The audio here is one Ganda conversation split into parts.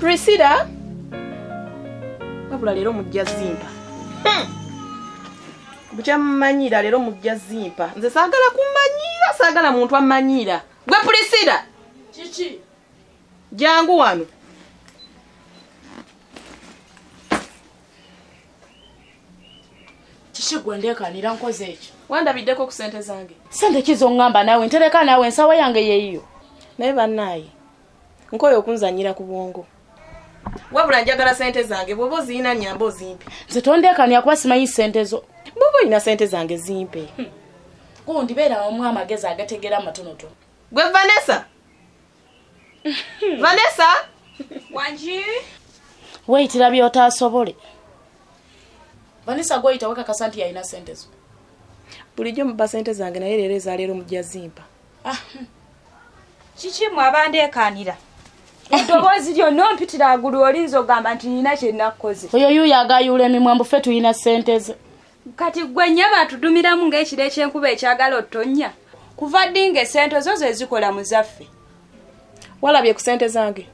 prisila wabula leero mujja zimpa hmm. bukya mumanyiira leero mujja zimpa nze saagala kumanyiira saagala muntu amanyiira gwe prisila kiki jangu wano kiki gwe ndeekanira nkoze ekyo wandabiddeko ku sente zange sente ki zoŋŋamba naawe ntereka naawe ensawa yange yeeyiyo naye bannaaye nkoye okunzanyira ku bwongo wabula njagala sente zange bwoba oziyina nyamba ozimpe nze tondekanya kuba simanyi sente zo bwoba olina sente zange zimpe hmm. kundibeera omu amagezi agategera amatonoto gwe vanessa hmm. vanessa wangi weyitira byotasobole vanessa gweyita wekakasa nti yalina sente zo bulijjo muba sente zange naye leero ezaleero mujja zimpa ah, hmm. kiki mwe abandeekaanira eddoboozi lyonna ompitira agulu olinza ogamba nti nina kyenakkoze oyo yuyo agayuula emimwa mbu ffe tulina ssente ze kati gwe nnyaba atudumiramu ng'ekiro ekyenkuba ekyagala ottonnya kuva ddi nga esente zo ze zikola mu zaffe walabye ku sente zange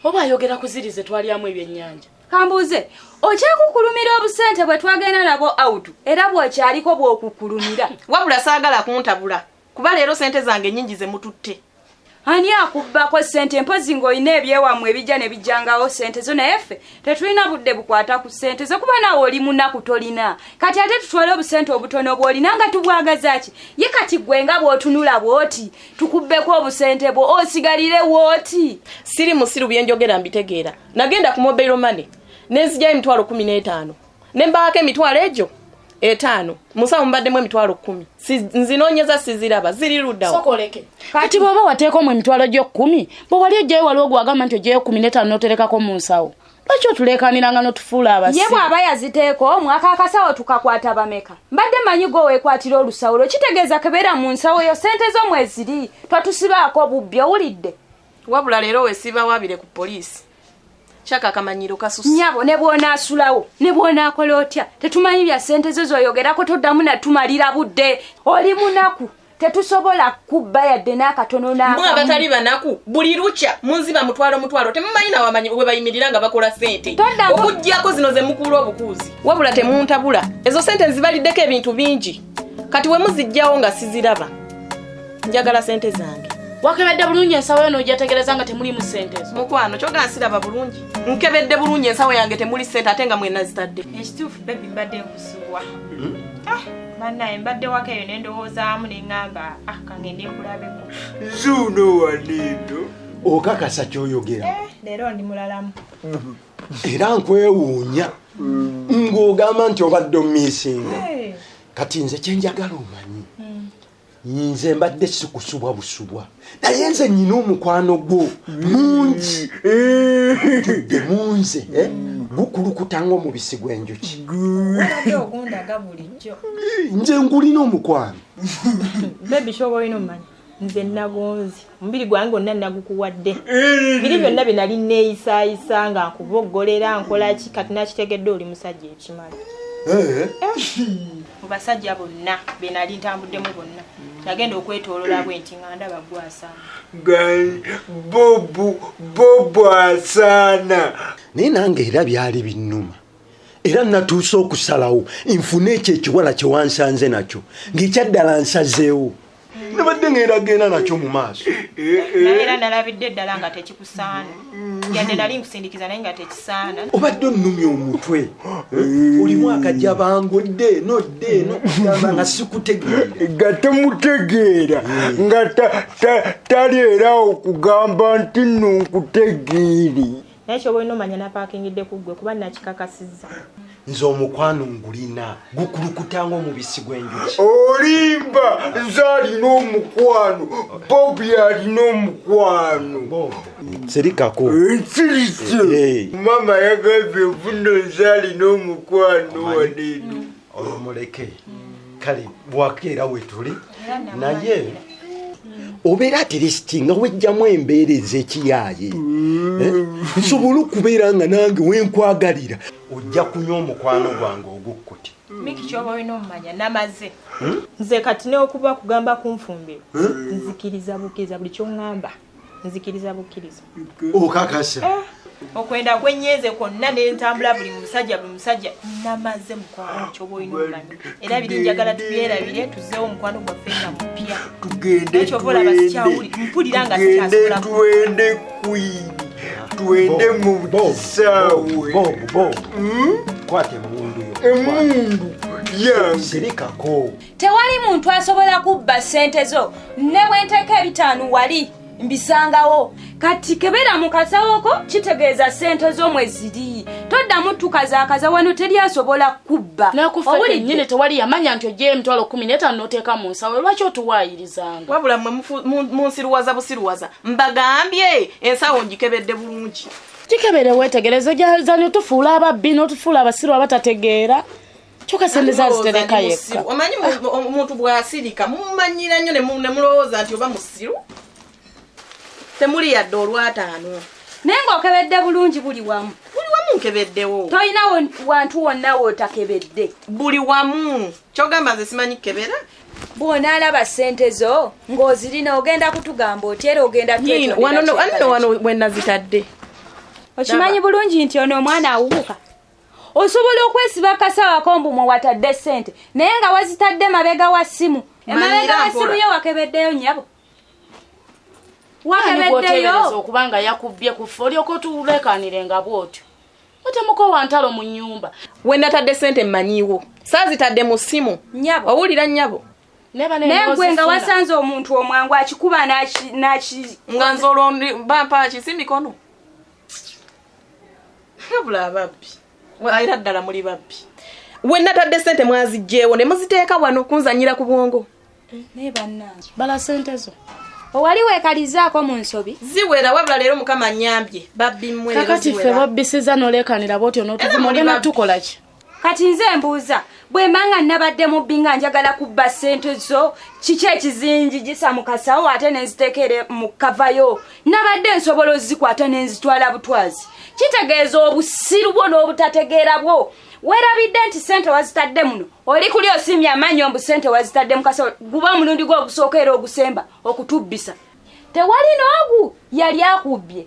oba ayogera ku ziri ze twalyamu ebyennyanja kambuuze okyakukulumira obusente bwe twagenda nabwo autu era bw'okyaliko bw'okukulumira wabula saagala kuntabula kuba leero sente zange nyingi zemututte ani akubbako sente mpozi ngaolina ebyewamwe ebijja nebijjangawo sente zo naye ffe tetulina budde bukwata ku sente zo kuba nawe oli munaku tolina kati ate tutwale obusente obutono obwolina nga tubwagazaki ye kati gwe nga bwotunula bwoti tukubbeko obusente bwo osigalire wooti siri musiru byenjogera mbitegeera nagenda ku mobile money nenzijayo emitwalo kumi n'etaano ne mbaako emitwalo egyo etaano musawo mubaddemu emitwalo kkumi nzinonyeza siziraba ziri ludawo kati bwoba wateekamu emitwalo gyokkumi bwe wali ojjayo waliwo gwagamba nti ojjayo kkumi netaano noterekako mu nsawo lwaki otuleekaniranga notufuula abasi ye bw'aba yaziteeka omwaka akasawo tukakwata bameka mbadde manyi gwe weekwatira olusawo lwo kitegeeza kebeera mu nsawo yo sente zo mweziri twatusibaako bubbi owulidde wabula leero wesiba wabire ku poliisi kyakakamanyiro kasusi nyabo ne bwona asulawo ne bwona akola otya tetumanyi bya sente zo zoyogerako toddamu natumalira budde oli munaku tetusobola kubba yadde n'akatono nambwa abatali banaku buli lukya munziba mutwalo mutwalo temumanyi nawamanyi we bayimirira nga bakola sente okuggyako zino ze mukuula obukuuzi wabula temuntabula ezo sente nzibaliddeko ebintu bingi kati wemuzijjawo nga siziraba njagala sente zange wakebedde bulungi ensawo yo nojategereza nga temulimu sente ezo mukwano kyogana siraba bulungi nkebedde bulungi ensawo yange temuli sente ate nga mwena zitadde ekituufu bebi mbadde nkusubwa hmm? ah, banaye mbadde waka eyo nendowoozamu neŋamba ah, kange nekulabeko zuuno wanendo okakasa kyoyogera eh, leero ndi mulalamu hmm. era nkwewuunya ng'ogamba nti obadde omiisinga kati nze kyenjagala omanyi nze mbadde sikusubwa busubwa naye nze nyina omukwano gwo mungi tudde munze eh? gukulukuta ngaomubisi gw'enjuki nze ngulina omukwano nze nagonzi omubiri gwange onna nagukuwadde eh. biri byonna bye nali neeyisayisa nga nkuboggolera nkolaki kati nakitegedde oli musajja ekimala eh. eh. mu basajja bonna be nali ntambuddemu bonna nagenda okwetolola bwe nti nga ndaba gwasaana bobwasaana naye nange era byali binnuma era natuuse okusalawo nfune ekyo ekiwala kyewansanze nakyo ng'ekyaddala nsazeewo nabadde ngenda genda nakyo mu maaso eh, eh. naye era nalabidde eddala nga tekikusaana yadde nali nkusindikiza naye nga tekisaana obadde onnumya omutwe eh. olimu akajja bangudde nodde eno kugamba nga sikutegeera nga temutegeera nga taleerawo kugamba nti nonkutegeere naye kyoba olina omanya napakingidde ku ggwe kuba nakikakasizza nze omukwano ngulina gukulukuta ngaomubisi gw'enjuki olimba nze alina omukwano bobi alina omukwano sirikako nsirike mama yagambye nvuno nze alina omukwano waneeno omuleke kale bwakeera wetuli naye obeera atiresti nga wejjamu embeera ezekiyaaye mm. eh? nsobola okubeera nga nange wenkwagalira ojja kunywa omukwano gwange ogukkuti miki kyoba olina omumanya namaze hmm? nze kati neokuba kugamba kunfumbiro hmm? nzikiriza bukiriza buli kyoŋŋamba nzikiriza bukkiriza okakasa eh, okwenda kwenyenze kwonna nentambula buli musajja buli musajja namaze mukwano kyoba olina omanya era biri njagala tubyerabire tuzeewo omukwano gwaffe nga mupya tugendekyoba olaba sikyawuli mpulira nga sikyasobola twende mu kisaawe hmm? kwata emundu yo emundu yange sirikako tewali muntu asobola kubba sente zo ne bwenteeka ebitaano wali mbisangawo kati kebera mu kasawoko kitegeeza sente zo mwe ziri toddamu tukazakaza wano teri asobola kubba nakufenyini tewali yamanya nti ojeyo emitwalo kumi netaano noteeka mu nsawo lwaki otuwaayirizanga wabula mwe munsiruwaza busiruwaza mbagambye ensawo ngikebedde bulungi kikebere wetegerezo gyazani otufuula ababbi notufuula abasiru abatategeera kyoka sente zazitereka yekka omanyi omuntu bwasirika mumanyira nnyo nemulowooza nti oba musiru temuli yadde olwataano naye ngaokebedde bulungi buli wamu buli wamu nkebeddewo tolina wantu wonna wotakebedde buli wamu kyogamba nze simanyi kukebera bwonaalaba sente zo ng'ozirina ogenda kutugamba otyera ogenda wano wenazitadde okimanyi bulungi nti ono omwana awubuka osobola okwesiba akasawo akombu mwe watadde ssente naye nga wazitadde mabega wa ssimu emabega wa ssimu yo wakebeddeyo nyabo wakebeddeyo okubanga yakubbye kufa olyoka otulekanire nga bwotyo otemukowa ntalo mu nyumba wenatadde ssente mmanyiwo saazitadde mu ssimu nyabo owulira nyabo nayegwe nga wasanze omuntu omwangu akikuba naki nga nze olwo bampa kisi mikono wabula ababbi era ddala muli babbi wenatadde sente mwazijjeewo ne muziteeka wano kunzanyira ku bwongo naye bannange bala sente zo owali wekalizaako mu nsobi ziwera wabula leero mukama nyambye babbimwe kakati ffe babbisiza nolekanira bwotyo notuvuma ogenda tukolaki kati nze mbuuza bwemba nga nabadde mubbi nga njagala kubba ssente zo kiki ekizingi gisa mu kasawo ate nenziteekere mu kavayo nabadde nsobola ozikwata nenzitwala butwazi kitegeeza obusiru bwo n'obutategeera bwo werabidde nti ssente wazitadde muno oli kuli osiimye amannyo mbu ssente wazitadde mu kasawo guba omulundi gwe ogusooka era ogusemba okutubbisa tewali n'ogu yali akubbye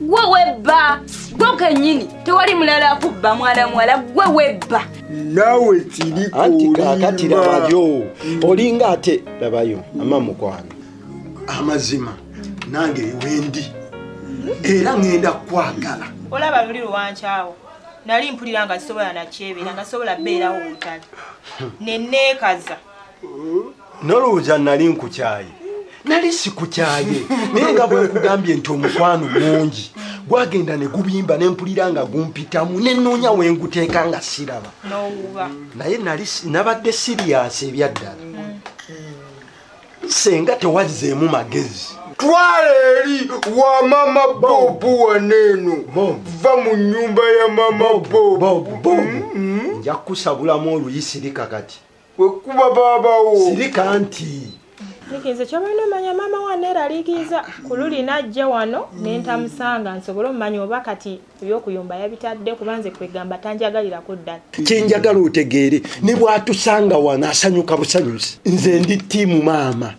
gwe webba gwe kenyini tewali mulala akubba mwana muwala gwe webba nawe kirikatirabayo olinga ate labayo ama mukwano amazima nange wendi era ngenda kwagala olaba luli luwankyawo nali mpulira nga sisobola nakyebera nga sobola beerawo wutali neneekaza nolowooza nali nkukyaye nali sikukyaye naye nga bwenkugambye nti omukwano mungi gwagenda ne gubimba ne mpulira nga gumpitamu ne nnoonya we nguteeka nga siraba naye nali nabadde siriyasi ebyaddala senga tewazzeemu magezi twala eri wa mama bobu waneeno va mu nyumba ya mama bobu mm-hmm. nja kukusabulamu oluyisirika kati wekuba babawo sirika nti likize kyobalina omanya maama wa neeraliikiiza ku luli najja wano nentamusanga nsobole omumanya oba kati ebyokuyumba yabitadde kuba nze kwegamba tanjagalirako ddala kyenjagala otegeere ne bwatusanga wano asanyuka busanyuzi nze ndi tiimu maama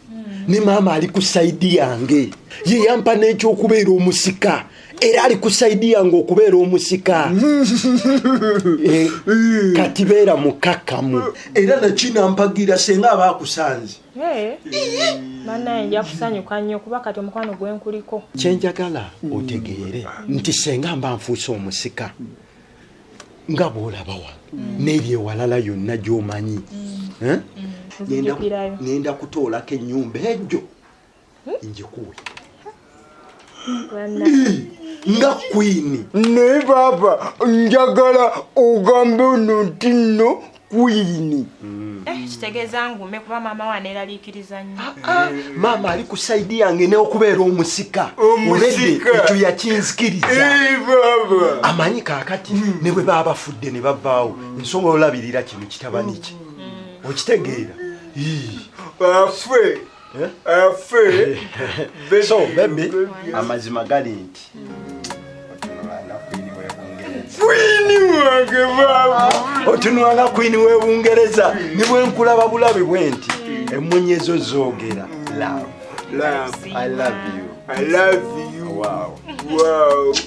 ne maama ali ku saidi yange ye yampa n'ekyokubeera omusika era ali kusaidi yange okubeera omusika eh, kati beera mukakamu era nakinampagira senga aba akusanze banaye nja kusanyuka nnyo kuba kati omukwano gwenkuliko kyenjagala otegeere nti senga mba nfuuse omusika nga bwolabawa mm. neryo ewalala yonna gyomanyi mm. eh? mm. ngenda kutoolako ennyumba ejo njikuwe nga kwini naye baaba njagala ogambe ono nti nno kwini mm. eh, kitegeeza ngume kuba maama waneeraliikiriza nnyo ah, ah. maama ali ku saidi yange neokubeera omusika olede ekyo yakinzikiriza eh, amanyi kakati mm. ne bwe baba bafudde ne bavaawo mm. nsobola olabirira kino kitabani kye okitegeera bafe Eh? Eh, so bebi amazima gali nti otunwana kwini webungereza nibwenkulaba bulabi bwenti emunyi ezo zogera love. Love. I love you. I love you. Wow. Wow.